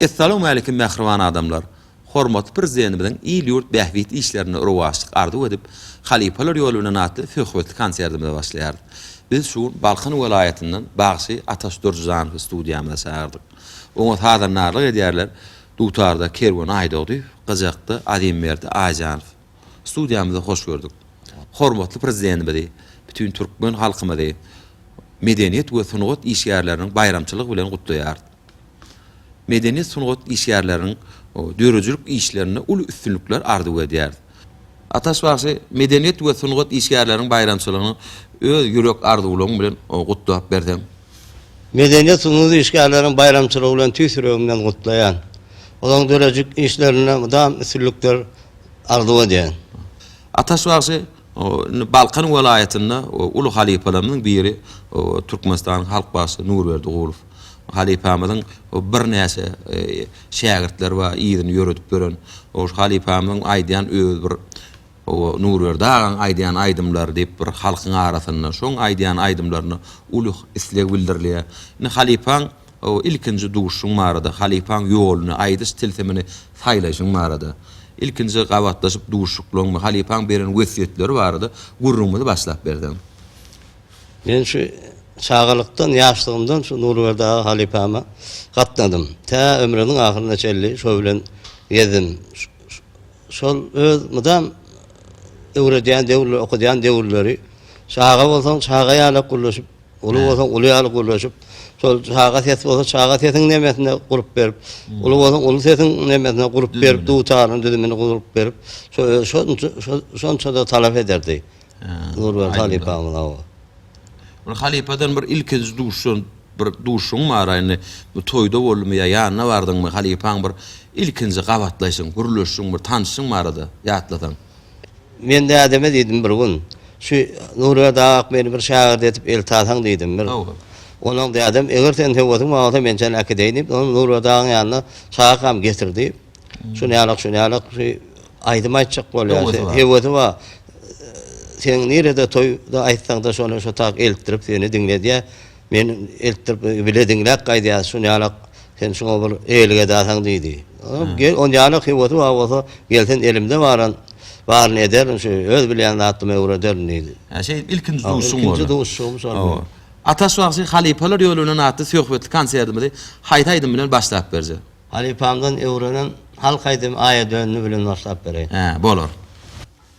Essalowmalikim mähriban adamlar! Hormatly Prezidentimiziň il-ýurt bähbit işlerinde rowaçlyk arzuw edip, Halypalar ýoly bilen atly söhbetli konsertimize başlaýarys. Biz şu gün Balkan welaýatyndan bagşy Ataş Durjyjanowy studiýamyza çagyrdyk. Oňa sazandarlyk edýärler Dutarda Kerwen Aýdogdyýew, gyjakda Azimberdi Aýjanow. Studiýamyza hoş gördük. Hormatly Prezidentimizi, bütin türkmen halkymyzy medeniýet we sungat işgärleriniň baýramçylygy bilen gutlaýarys. Medeniýet-sungat işgärleriniň döredijilik işlerinde uly üstünlikler arzuw edýäris. Ataş bagşy medeniýet we sungat işgärleriniň baýramçylygyny öz ýürek arzuwlaryň bilen gutlap berseň. Medeniýet-sungat işgärleriniň baýramçylygy bilen tüýs ýüregimden gutlaýan. Olaryň döredijilik işlerinde mydam üstünlikler arzuw edýän. Ataş bagşy indi Balkan welaýatynda uly halypalarymyzyň biri Türkmenistanyň halk bagşysy Nurberdi Gulow halypamyzyň birnäçe şägirtleri bar yzyny ýöredip ýören. Ol halypamyzyň aýdýan öz bir Nurberdi agaň aýdýan aýdymlary diýip bir halkyň arasynda şoň aýdýan aýdymlaryna uly isleg bildirilýär. Indi halypaň O, ilkinji duşuň barada, halypaň ýoluny, aýdyş tilsimini saýlaýşyň barada, ilkinji gabatlaşyp duşuklaň we halypaň beren wesýetleri barada gürrüňimizi başlap berseň. Men şu çagalykdan, ýaşlygymdan şu Nurberdi aga halypama gatnadym. Tä ömrüniň ahyryna çenli şo bilen gezdim. Şol öz mydam öwredýän döwürleri, okadýan döwürleri, çaga bolsaň, çaga ýalak gürleşip, Uly bolsaň uly ýaly gürleşip, şol çaga ses bolsa çaga sesiň nemesine gurup berip, uly bolsaň uly sesiň nemesine gurup berip, dutaryň düzümini gurup berip, şonça-da talap ederdi. Nurberdi halypamyz, hawa. Ol halypadan bir ilkinji duşan bir duşuň bar-a indi. Bu toýda boldumy ýa ýanyna bardyňmy, halypaň bir ilkinji gabatlaýşyň, gürleşişiň, bir tanyşyň bar-da, ýatlasaň? Men dädeme diýdim bir gün, Şu Nurberdi ak meni bir şägirdi edip eltasaň diýdim. Bir Onuň dädem, Eger seniň höwesiň bar bolsa men seni äkideýin diýip, ony Nurberdi agyň ýanyna çagakam getirdi. Şunýalak, şunýalak şu aýdym aýtjak bolýar. Höwesi bar. Sen nirede toýda aýtsaňda şony şotak eltdirip seni diňledýär. Men eltdirip bile diňläp gaýdýas, şunýalak sen şuňa bir eýelik edersiň diýdi. Gel, onýalak höwesi bar bolsa, gel sen elimde baran baryny ederin, şu öz bilýän zadymy öwrederin diýdi. Hä, şeýdip ilkinji duşuşygyň boldy. Ilkinji duşuşygym şol boldy. Hawa. Ataş bagşy Halypalar ýolunan atly söhbetli konsertimizi haýsy aýdym bilen başlap berje? Halypamdan öwrenen halk aýdymy Aýa döndi bilen başlap bereýin. Hä, bolar.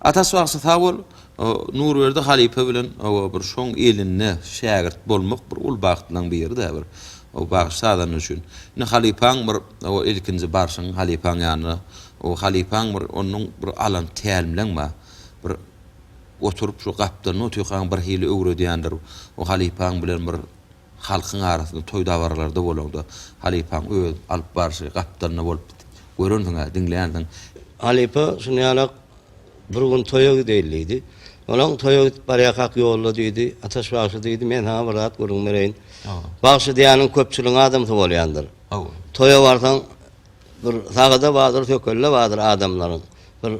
Atasy bagşy sag bol. Nurberdi halypa bilen oba bir şoň elinde şägirt bolmak bir uly bagtlaň biri-dä bir o bagşy sazanda üçin. Indi halypaň bir oba ilkinji barşyň halypaň ýanyna o halypaň bir onuň bir alan tälimleň bar. Bir oturyp şu gapdalynda otyrkaň bir hili öwredýändir. O halypaň bilen bir Halkyň arasynda toý-dabaralarda bolaňda, halypaň öz alyp barşy gapdalynda bolup görensiň-ä, diňlänsiň. Halypa şuny ýalak bir gün toýa gideýli diýdi. Olaň toýa gidip barýarkak ýolda diýdi, Ataş bagşy diýdi, men saňa bir zat gürrüň bereýin. Bagşy diýýäniň köpçüligiň adamsy bolýandyr. Toýa barsaň, bir sagada bardyr, sökelde bardyr adamlaryň. Bir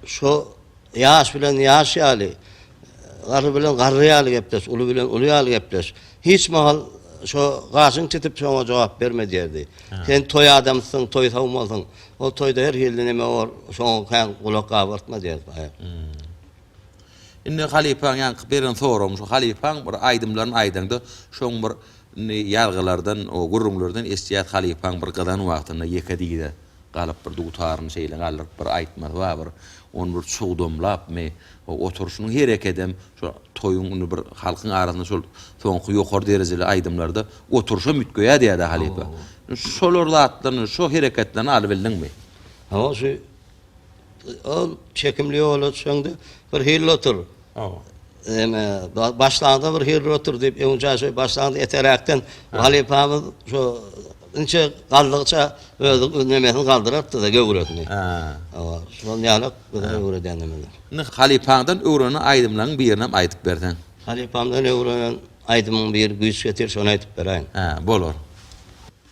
Şo ýaş bilen ýaş ýaly, garry bilen garry ýaly gepleş, uly bilen uly ýaly gepleş. Hiç mahal şo gaşyňy çytyp şoňa jogap berme diýerdi. Sen toý adamysyň, toý sowmalysyň. Ol toýda her hilli neme bor, şoňa kän gulak gabartma diýerdi paýhas. Indi halypaň ýaňky beren soragym şu, halypaň bir aýdymlaryny aýdaňda, şoň bir indi ýazgylardan, o gürrüňlerden eşitýäs halypaň bir gyzan wagtynda ýeke diýze. Galyp bir dutaryny şeýle galdyryp bir aýtmasy bar, bir ony bir çugdamlapmy, o oturyşynyň herekedem şo toýuň indi bir halkyň arasynda şol soňky ýokary derejeli aýdymlarda oturyşam üýtgeýär diýýär-dä halypa. Şolar zatlaryny, şo hereketlerini alybildiňmi? Hawa, şu ol çekimli ýola düşeňde birhili otur. Ene, başlanda bir hili otur diýip, öňja şeý başlanda eteräkden halypamyz şu inçe galdygyça özi nemesini galdyrardy-da göwresini. Hawa, şol ýaly biziň öwredeniňiz. Indi halypaňdan öwrenen aýdymlaryň birini hem aýdyp berseň. Halypamdan öwrenen aýdymyň biri güýç getir, şony aýdyp beräýin. Hä, bolar.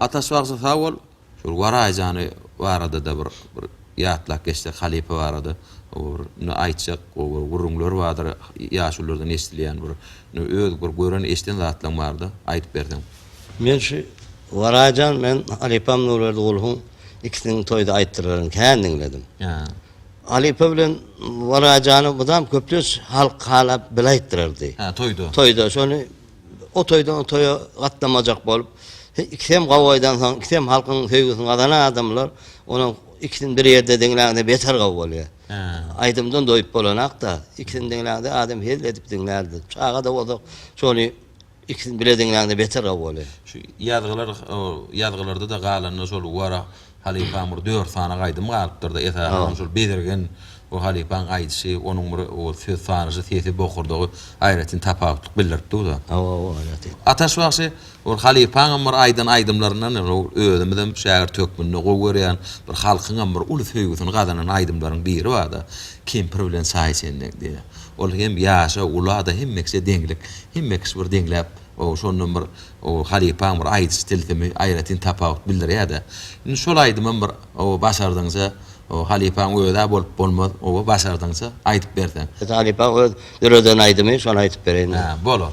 Ataş bagşy sag bol. Şol Waraý jany barada-da bir bir ýatlap geçsek halypa barada. Oba bir indi aýtjak gowy bir gürrüňler bardyr, ýaşulylardan eşdilýän bir Indi öz bir gören eşden zatlaň barda aýdyp berseň. Men şu Warajan men halypam Nurberdi Gulhuň ikisiniň toýda aýtdyrylaryny kän diňledim. Halypa bilen Warajany mydam köplenç halk halap bile aýtdyrardy. Hä toýda. Toýda şony o toýdan o toýa gatnamajak bolup ikisem gowy aýdansoň ikisem halkyň söýgüsini gazanan adamlar onuň ikisini bir ýerde diňläňde beter gowy bolýar. Aýdymdan doýup bolanakda, ikisini diňläňde adam hezil edip diňlärdi. Çaga-da bolsa şony ikisini bile diňläňde beter gowy bolýar. Şu ýazgylar ýazgylarda-da galanda şol Wara halypaň bir dört sany aýdymy galypdyr-da, esasan şol Bezirgen we halypaň aýdyşy, onuň bir ol söz sanyşy, sesi, bokurdagy aýratyn tapawutlyk bildirip dur-da. Hawa, hawa, aýratyn. Ataş bagşy Ol halypaňam bir aýdan aýdymlaryndan ol özümizem şägirt hökmünde gowy görýän bir halkyňam bir uly söýgüsini gazanan aýdymlaryň biri barda Kempir bilen Saýy çennek diýen. Ol hem ýaşa, ula-da hemme kişä deňlik. Hemme kişi bir deňläp o şondan bir o halypaň bir aýdyş tilsimi aýratyn tapawut bildirýä-de. Indi şol aýdymam bir o başardygyňça o halypaň özi-ä bolup bolmaz oba başardygyňça aýdyp berseň. Halypaň öz döreden aýdymy şony aýdyp bereýin. Hä, bolar.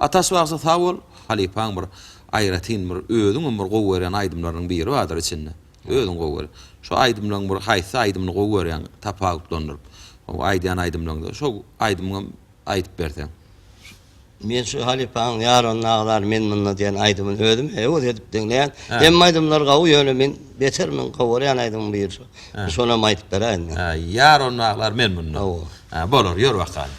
Ataş bagşy sag bol halypaň bir aýratyn bir özüňem bir gowy görýän aýdymlaryňyň biri bardyr içinde özüň gowy görýän şo aýdymlaň bir haýsy aýdymyny gowy görýäň tapawutlandyryp şo aýdýan aýdymlaňda şo aýdymyňam aýdyp berseň. Men şu halypaň Ýaran naglar men munda diýen aýdymyny özüm höwes edip diňleýän. Hemme aýdymlary gowy ýöne men beter men gowy görýän aýdymyň biri şo. Şonam aýdyp beräýiň. Ýaran naglar men munda. Hawa. Bolar ýör bakalym.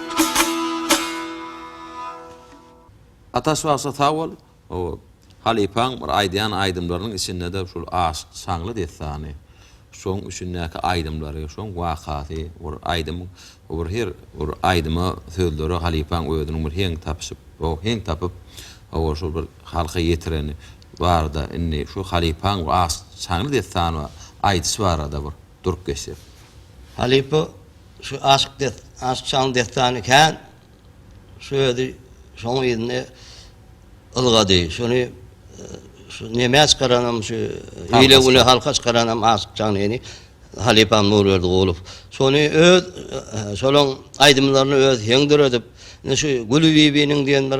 Ataş bagşy sag bol o halypaň bir aýdýan aýdymlarynyň içindede şul Aşyk şaňly dessany şoň üçindäki aýdymlary şoň wakasy bir aýdym o bir her bir aýdyma sözlere halypaň özüniň bir heň tapyşyp o heň tapyp o şul bir halka ýetireni barda indi şu halypaň Aşyk şaňly dessany aýdyşy barada bir. durup geçsek. Halypa şu aşyk des aşyk şalyň dessany kän şu özi şoň yzyny ylgady şuny şu nemä çykaranam şu ile güne halka çykaranam aşyk şalyny halypam Nurberdi Gulow şuny öz şolaň aýdymlaryny öz heň döredip indi şu Gülübibiniň diýen bir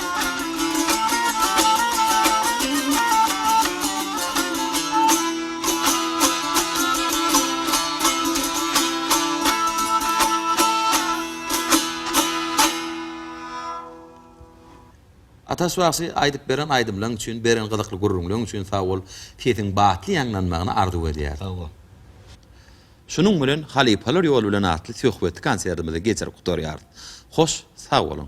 Ataş bagşy aýdyp beren aýdymlaň üçin beren gyzykly gürrüňleň üçin sagbol sesiň batly ýaňlanmagyny arzuw edýäris. Sagbol. Şunuň bilen Halypalar ýoly bilen atly söhbetli konsertimizi geçirip gutarýarys. Hoş sag boluň.